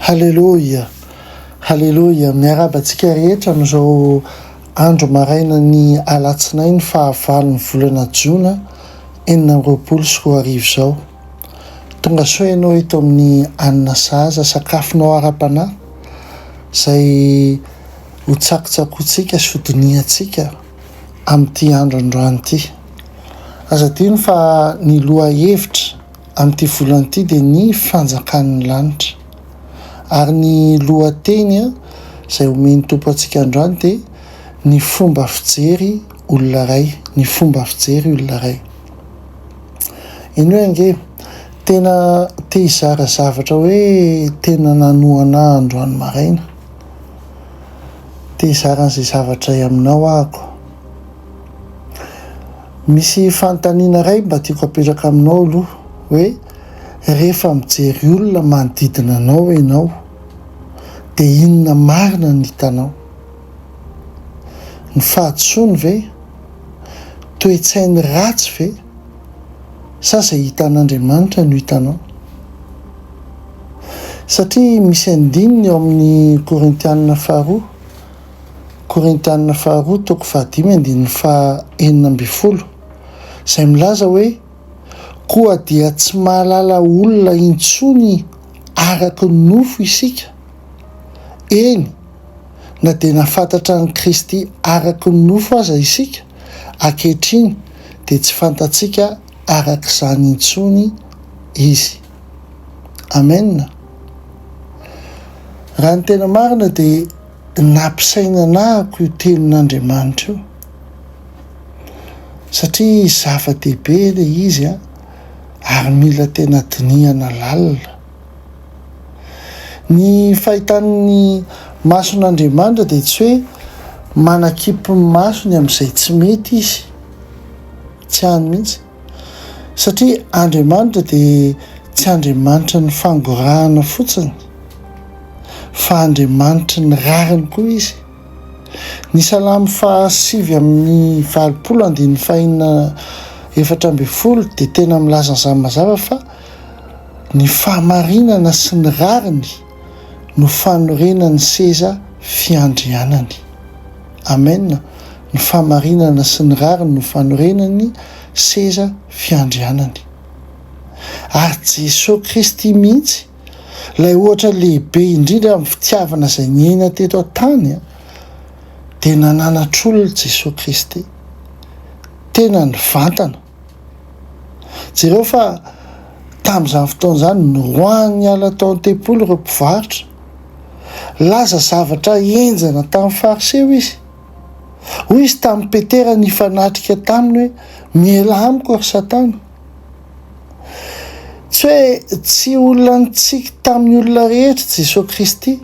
Haleloia, haleloia, miarahaba antsika rehetra amin'izao andro maraina ny alatsinainy fahavalon'ny volana jona enina amby roapolo sy roa arivo izao. Tonga soa ianao eto amin'ny anina sahaza sakafonao ara-panahy izay ho tsakotsakointsika sy ho dinihantsika amin'ity andro androany ity. Aza adino fa ny lohahevitra amin'ity volana ity dia ny fanjakan'ny lanitra. Ary ny lohateny izay omen'ny Tompo antsika androany dia ny fomba fijery olona iray, ny fomba fijery olona iray. Eny hoe ange, tena te hizara zavatra hoe tena nanohana ahy androany maraina. te hizara an'izay zavatra aminao ahako. Misy fanontaniana iray mba tiako apetraka aminao aloha hoe rehefa mijery olona manodidina anao ianao dia inona marina no hitanao? Ny fahadisoany ve? Toe-tsainy ratsy ve? Sa izay hitan'Andriamanitra no hitanao? Satria misy andininy ao amin'ny Korintianina faharoa, Korintianina faharoa toko fahadimy andininy faha enina ambin'ny folo, izay milaza hoe, Koa dia tsy mahalala olona intsony araka ny nofo isika, eny, na dia nafantatra an'i Kristy araka ny nofo aza isika, ankehitriny dia tsy fantatsika araka izany intsony Izy. Amen. Raha ny tena marina dia nampisainana ahako io tenin'Andriamanitra io. Satria zava-dehibe ilay izy a, ary mila tena dinihana lalina. Ny fahitan'ny mason'Andriamanitra dia tsy hoe manakipy ny masony amin'izay tsy mety izy. Tsy any mihitsy. Satria Andriamanitra dia tsy Andriamanitry ny fangorahana fotsiny, fa Andriamanitry ny rariny koa Izy. Ny Salamo faha sivy amby valopolo andininy fahenina efatra ambin'ny folo dia tena milaza an'izany mazava fa ny fahamarinana sy ny rariny no fanorenan'ny seza fiandrianany. Amen, ny famarinana sy ny rariny no fanorenany seza fiandrianany. Ary Jeso Kristy mihitsy, ilay ohatra lehibe indrindra amin'ny fitiavana izay niaina teto an-tany, dia nananatr'olona Jeso Kristy. Tena nivantana. Jereo fa tamin'izany fotoana izany, noroahiny niala tao an-tempoly ireo mpivarotra. Laza zavatra henjana tamin'ny Fariseo izy. Hoy izy tamin'i Petera nifanatrika taminy hoe, Miela amiko, ry Satana! Tsy hoe tsy olona nitsiky tamin'ny olona rehetra i Jesoa Kristy.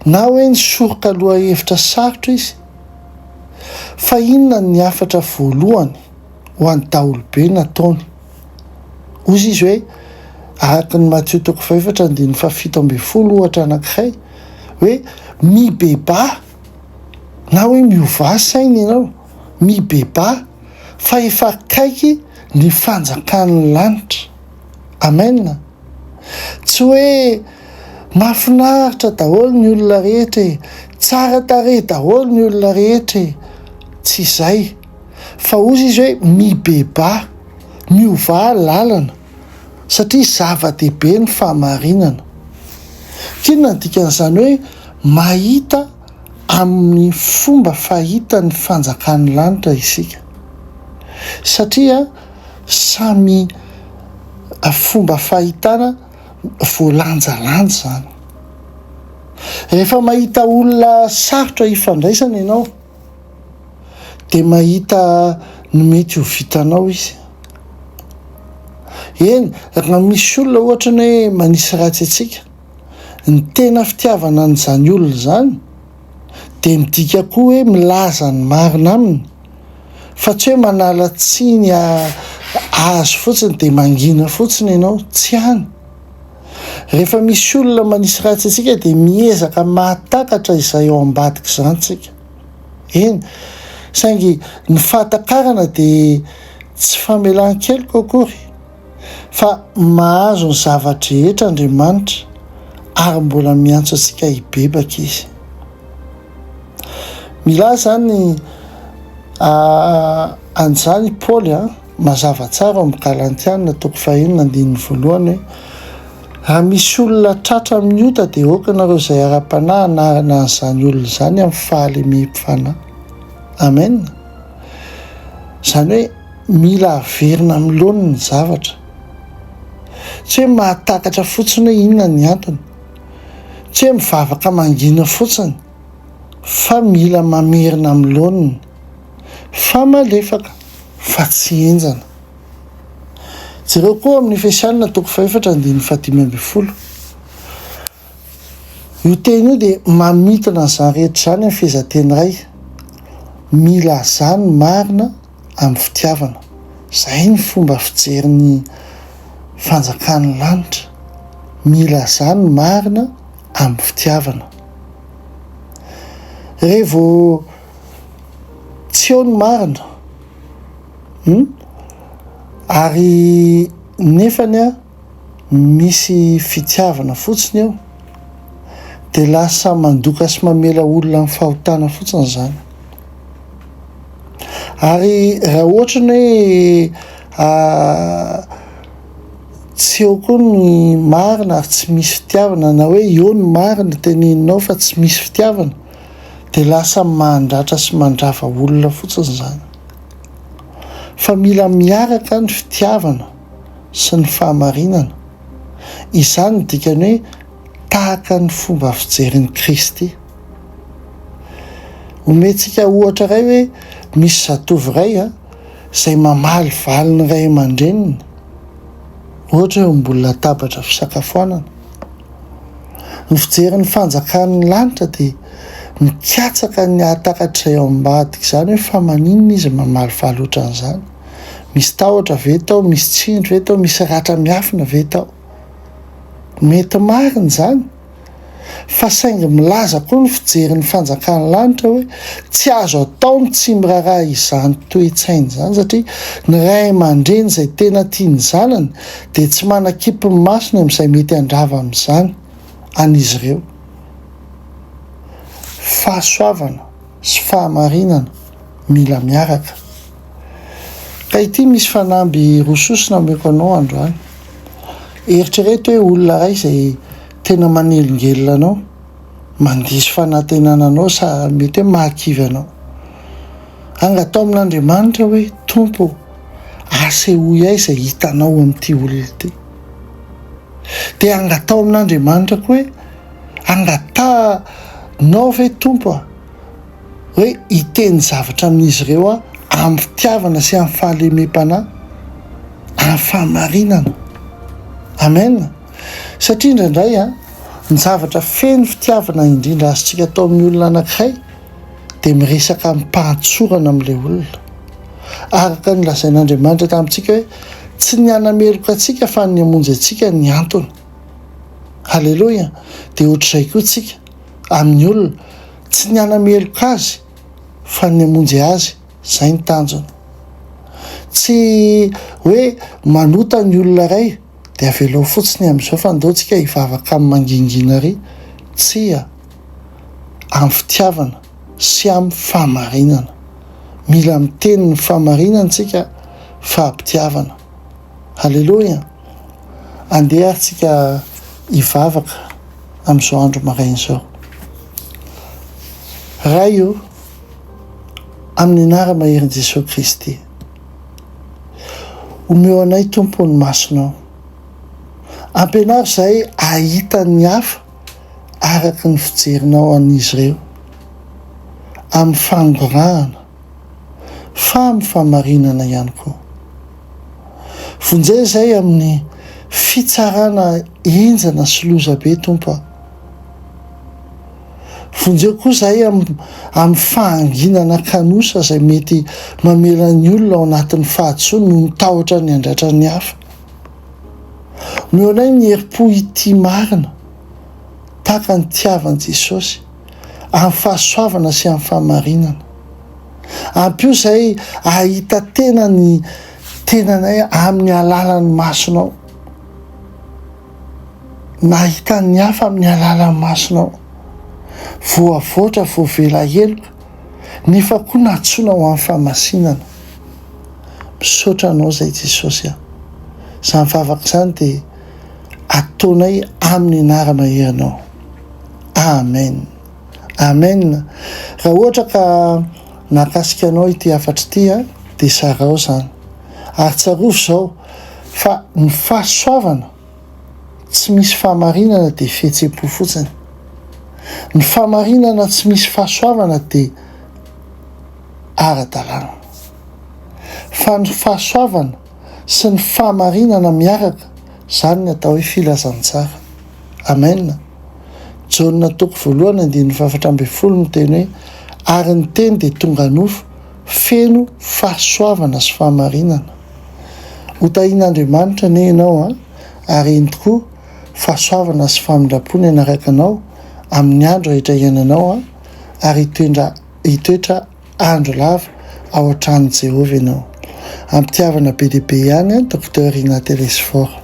Na hoe nisoroka lohahevitra sarotra izy fa inona ny hafatra voalohany ho an'ny daholobe nataony? Hozy izy hoe, araka ny Matio toko fahefatra andininy fahafito ambin'ny folo ohatra anankiray, hoe mibebaha, na hoe miovà saina ianao, mibebaha, fa efa akaiky ny fanjakan'ny lanitra. Amena. Tsy hoe mahafinaritra daholo ny olona rehetra e, tsara tarehy daholo ny olona rehetra e. Tsy izay. Fa hozy izy hoe mibebaha, miovaha lalana, satria zava-dehibe ny fahamarinana. Inona no dikan'izany hoe mahita amin'ny fomba fahita ny fanjakan'ny lanitra isika? Satria. Samy fomba fahitana voalanjalanja izany. Rehefa mahita olona sarotra hifandraisana ianao dia mahita ny mety ho vitanao izy. Eny, raha misy olona ohatra ny hoe manisy ratsy antsika, ny tena fitiavana an'izany olona izany, dia midika koa hoe milaza ny marina aminy fa tsy hoe manala tsiny azy fotsiny dia mangina fotsiny ianao, tsy any. Rehefa misy olona manisy ratsy antsika dia miezaka mahatakatra izay ao ambadik'izany isika. Eny, saingy ny fahatakarana dia tsy famelan-keloka akory. fa mahazo ny zava-drehetra Andriamanitra ary mbola miantso antsika hibebaka Izy. Milaza izany an'izany i Paoly mazava tsara ao amin'ny Galantiana toko fahenina andininy voalohany hoe raha misy olona tratra amin'ny ota dia aoka ianareo izay ara-panahy hanarina an'izany olona izany amin'ny fahalemem-panahy. Amen. Izany hoe Mila averina amin'ny laoniny ny zavatra. Tsy hoe mahatakatra fotsiny hoe inona ny antony, tsy hoe mivavaka mangina fotsiny fa mila mamerina amin'ny laoniny fa malefaka fa tsy henjana. Jereo koa ao amin'ny Efesianina toko fahefatra andininy fahadimy ambin'ny folo. Io teny io dia mamintina an'izany rehetra izany amin'ny fehezanteny iray, Mila azany marina amin'ny fitiavana. Izay ny fomba fijery ny fanjakan'ny lanitra. Milazà ny marina amin'ny fitiavana. Re vao tsy eo ny marina, hum, ary nefany a. misy fitiavana fotsiny eo dia lasa mandoka sy mamela olona amin'ny fahotana fotsiny izany. Ary raha ohatra ny hoe tsy eo koa ny marina ary tsy misy fitiavana na hoe eo ny marina teneninao fa tsy misy fitiavana dia lasa mandratra sy mandrava olona fotsiny izany. Fa mila miaraka ny fitiavana. sy ny fahamarinana. Izany no dikan'ny hoe tahaka ny fomba fijerin'i Kristy. Omentsika ohatra iray hoe misy zatovo iray izay mamaly valin'ny ray aman-dreniny, ohatra hoe eo ambony latabatra fisakafoanana. Ny fijery ny fanjakan'ny lanitra dia mikatsaka ny hahatakatra izay ao ambadika izany hoe fa maninona izy mamaly valy ohatran'izany. Misy tahotra ve tao? Misy tsindry ve tao? Misy ratra miafina ve tao? Mety marina izany, fa saingy milaza koa ny fijerin'ny fanjakan'ny lanitra hoe tsy azo atao ny tsy miraharaha izany toe-tsaina izany, satria ny ray aman-dreny izay tena tia ny zanany dia tsy manakipy ny masony amin'izay mety handrava amin'izany an'izy ireo. Fahasoavana sy fahamarinana mila miaraka. Ka ity misy fanamby roa sosona omeko anao androany. Eritrereto hoe olona iray izay tena manelingelina anao, mandiso fanantenana anao sa mety hoe mahakivy anao. Anga atao amin'Andriamanitra hoe, Tompo ô, asehoy ahy izay hitanao amin'ity olona ity. Dia anga atao amin'Andriamanitra koa hoe, Angatahanao ve Tompo a? hoe hiteny zavatra amin'izy ireo aho amim-pitiavana sy amin'ny fahalemem-panahy, amin'ny fahamarinana. Amen. Satria indraindray, ny zavatra feno fitiavana indrindra azontsika atao amin'ny olona anankiray dia miresaka amim-pahatsorana amin'ilay olona. Araka ny lazain'Andriamanitra tamintsika hoe tsy ny hanameloka antsika fa ny hamonjy antsika ny antony. Haleloia. Dia ohatr'izay koa isika amin'ny olona. Tsy ny hanameloka azy fa ny hamonjy azy, izay ny tanjona. Tsy hoe manota ny olona iray dia avelao fotsiny amin'izao fa ndao tsika hivavaka amin'ny mangingina ary, tsia, amin'ny fitiavana sy amin'ny fahamarinana. Mila miteny ny fahamarinana tsika fa am-pitiavana. Haleloia! Andeha ary tsika hivavaka amin'izao andro maraina izao. Ray o, amin'ny anara-maherin'i Jesoa Kristy, omeo anay Tompo ny masonao. Ampianaro izahay hahita ny hafa araka ny fijerinao an'izy ireo, amin'ny fangorahana. fa amin'ny fahamarinana ihany koa. Vonjeo izay amin'ny fitsarana henjana sy loza be, Tompo a. Vonjeo koa izahay amin'ny fahanginana kanosa izay mety mamela ny olona ao anatin'ny fahadisoany noho ny tahotra ny handratra ny hafa. Omeo anay ny herim-po hitia marina, tahaka ny itiavan'i Jesosy. amin'ny fahasoavana sy amin'ny fahamarinana. Ampio izahay hahita tena ny tenanay amin'ny alalan'ny masonao. Nahita ny hafa amin'ny alalan'ny masonao. Voavoatra, voavela heloka, nefa koa nantsoina ho amin'ny fahamasinana. Misaotra anao izay Jesosy a. Izany vavaka izany dia ataonay aminy anarana ianao Amen Amen raha ohatra ka mahakasika anao ity hafatra ity a dia zarao zany ary tsarovy zao fa ny fahasoavana tsy misy fahamarinana dia fihetsem-po fotsiny ny fahamarinana tsy misy fahasoavana dia ara-dalàna fa ny fahasoavana sy ny fahamarinana miaraka, izany ny atao hoe filazantsara. Amen. Jaona toko voalohany andininy fahafatra ambin'ny folo miteny hoe, Ary ny Teny dia tonga nofo, feno fahasoavana sy fahamarinana. Ho tahin'Andriamanitra anie ianao an, ary eny tokoa, fahasoavana sy famindram-po ny hanaraka anao amin'ny andro rehetra iainanao an, ary hitoetra hitoetra Andro lava ao an-tranon'i Jehovah ianao. Am-pitiavana be dia be ihany an, Docteur Rina Telesforo.